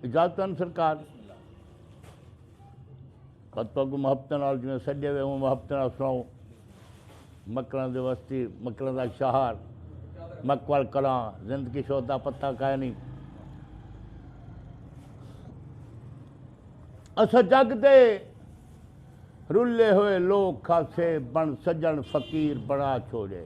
اجازت ان سرکار پت پگ محبت نال جویں سجے وے اون محبت نال سناؤ مکران دے وستی مکران دا شہر مکوال کلاں زندگی شودا پتہ کا نہیں اسا جگ دے رلے ہوئے لوگ کھاسے بن سجن فقیر بنا چھوڑے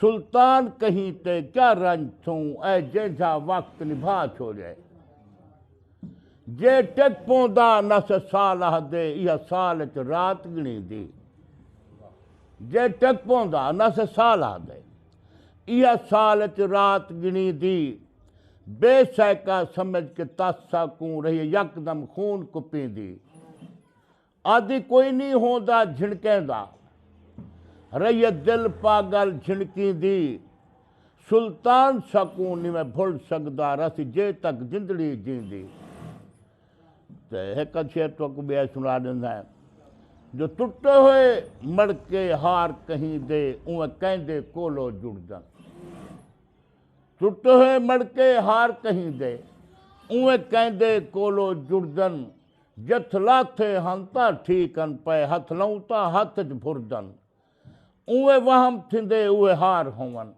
سلطان کہیں تے کیا رنج تھوں اے جینجھا وقت نبھا چھوڑے جے ٹک پوندا نس سال آہدے ایہا سال اچ رات گنیندی جے ٹک پوندا نس سال آہدے ایہا سال اچ رات گنیندی بے سہکا سمجھ کے تس ساکوں رہیے یکدم خون کپیندی آدھی کوئی نی ہوندا جھنکیں دا۔ رہیے دل پاگل جھنکیں دی۔ سلطان سکوں نی میں بھل سگدا رہسی جے تک زندڑی جیندی۔ تے ہک ادھ شعر تہاکوں ٻیا سݨا ݙیندا ہیں۔ جو ٹٹے ہوئے مڑکے ہار کہیں دے اونویں کہیں دے کولو جڑدن۔ ٹٹے ہوئے مڑکے ہار کہیں دے اونویں کہیں دے کولو جڑدن۔ جتھ لاتھے ہن تاں ٹھیک ہن پئے ہتھ لئوں تاں ہتھ اچ بھردن اونویں وہم تھیندے اوہے ہار ہوون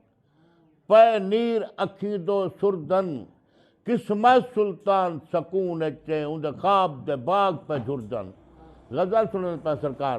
پئے نیر اکھیں دو سردن قسمہ سلطان سکون اچ اے اوندے خواب دے باغ پئے جھردن غزل سنڑدے پئے سرکار۔